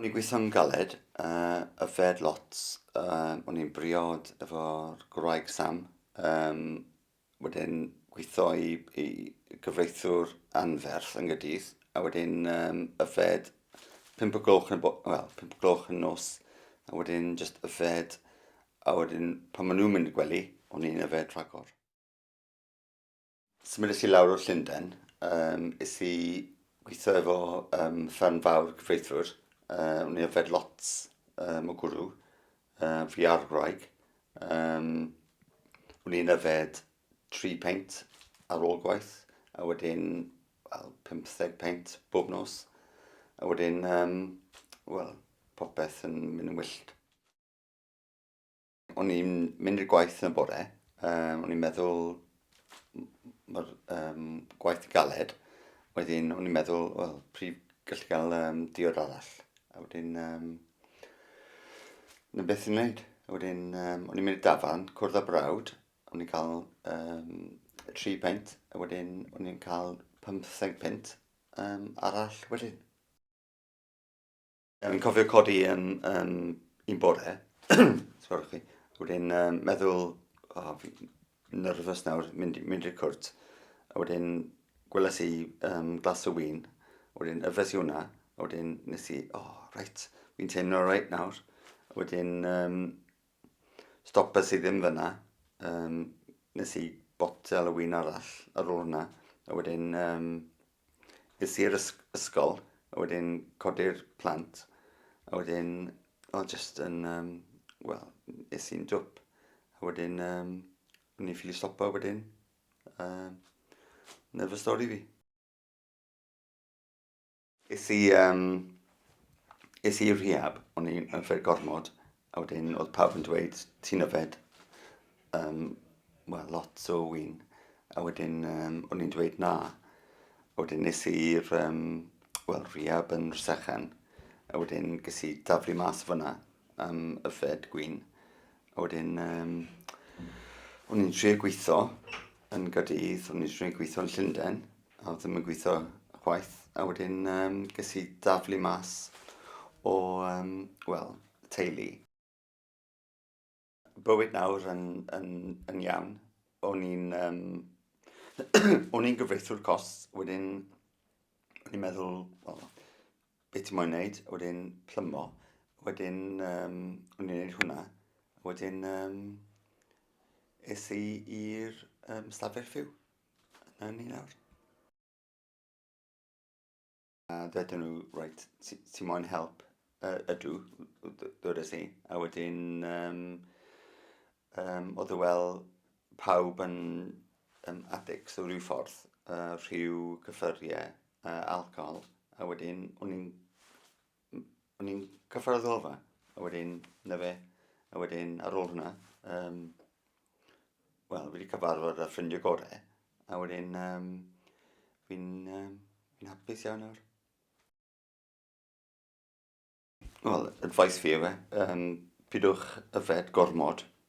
O'n i'n gweithio'n galed, uh, yfed lots, uh, o'n i'n briod efo'r gwraig Sam, um, wedyn gweithio i, i gyfreithwr anferth yn gydydd, a wedyn um, yfed pimp o gloch yn, well, pimp o gloch yn nos, a wedyn just yfed, a wedyn pan maen nhw'n mynd i gwely, o'n i'n yfed rhagor. Symudais i lawr o Llundain, um, is i gweithio efo um, fferm fawr gyfreithiwr. Uh, o'n i yfed lot um, o gwrw, uh, fi ar gwraig. Um, o'n i'n yfed tri peint ar ôl gwaith, a wedyn well, 50 peint bob nos. A wedyn, um, wel, popeth yn mynd yn wyllt. O'n i'n mynd i'r gwaith yn y bore, um, o'n i'n meddwl mae'r um, gwaith yn galed, wedyn o'n i'n meddwl, wel, prif gallu cael um, diod arall, a wedyn, um, na beth i'n wneud. A wedyn, um, o'n i'n mynd i dafan, cwrdd â brawd, o'n i'n cael um, tri pint, a wedyn o'n i'n cael 15 pint um, arall wedyn. Yn cofio codi yn, yn un bore, sgwrwch chi, wedyn um, meddwl, o, oh, nerfus nawr, mynd, mynd i'r cwrt, a wedyn gwelais i um, glas o wyn, wedyn yfres i hwnna, a wedyn nes i, o, oh, reit, fi'n teimlo reit nawr, a wedyn um, Stopes i ddim fyna, um, nes i botel o wyn arall ar ôl hwnna, a wedyn um, es i'r ysgol, a wedyn codi'r plant, a wedyn, o, oh, just yn, um, wel, es i'n dwp, a wedyn, um, o'n i'n ffili stopo wedyn, um, na fy stori fi. Es i yym es i i'r rehab o'n i'n yfed gormod a wedyn oedd pawb yn dweud ti'n yfed yym wel lot o win a wedyn yym o'n i'n dweud na a wedyn nes i'r yym wel rehab yn Rhysechen a wedyn ges i daflu mas fanna am yfed gwin a wedyn yym o'n i'n trio gweitho yn Gaerdydd o'n i'n trio gweitho yn Llunden A oedd ddim yn gweithio chwaith. A wedyn um, ges i daflu mas o, um, wel, teulu. Bywyd nawr yn, yn, yn iawn. O'n i'n um, o'n i'n gyfreithiwr cos, wedyn o'n i'n meddwl, well, beth ti'n moyn wneud, wedyn plymo, wedyn um, o'n i'n gwneud hwnna, wedyn um, es i i'r um, stafell fyw. Dyna ni nawr. A dydyn nhw, right, ti, ti moyn help? Uh, ydw, dwedais i. A wedyn, um, um, oedd e wel pawb yn um, addicts o rhyw ffordd, uh, rhyw cyffuriau, uh, alcohol. A wedyn, o'n i'n o'n i'n cyffordd o fa, a wedyn, na fe, a wedyn ar ôl hwnna, um, wel, wedi cyfarfod â ffrindiau gorau, a wedyn um, fi'n um, fi hapus iawn nawr. Wel, advice fi yw e, um, pidwch yfed gormod,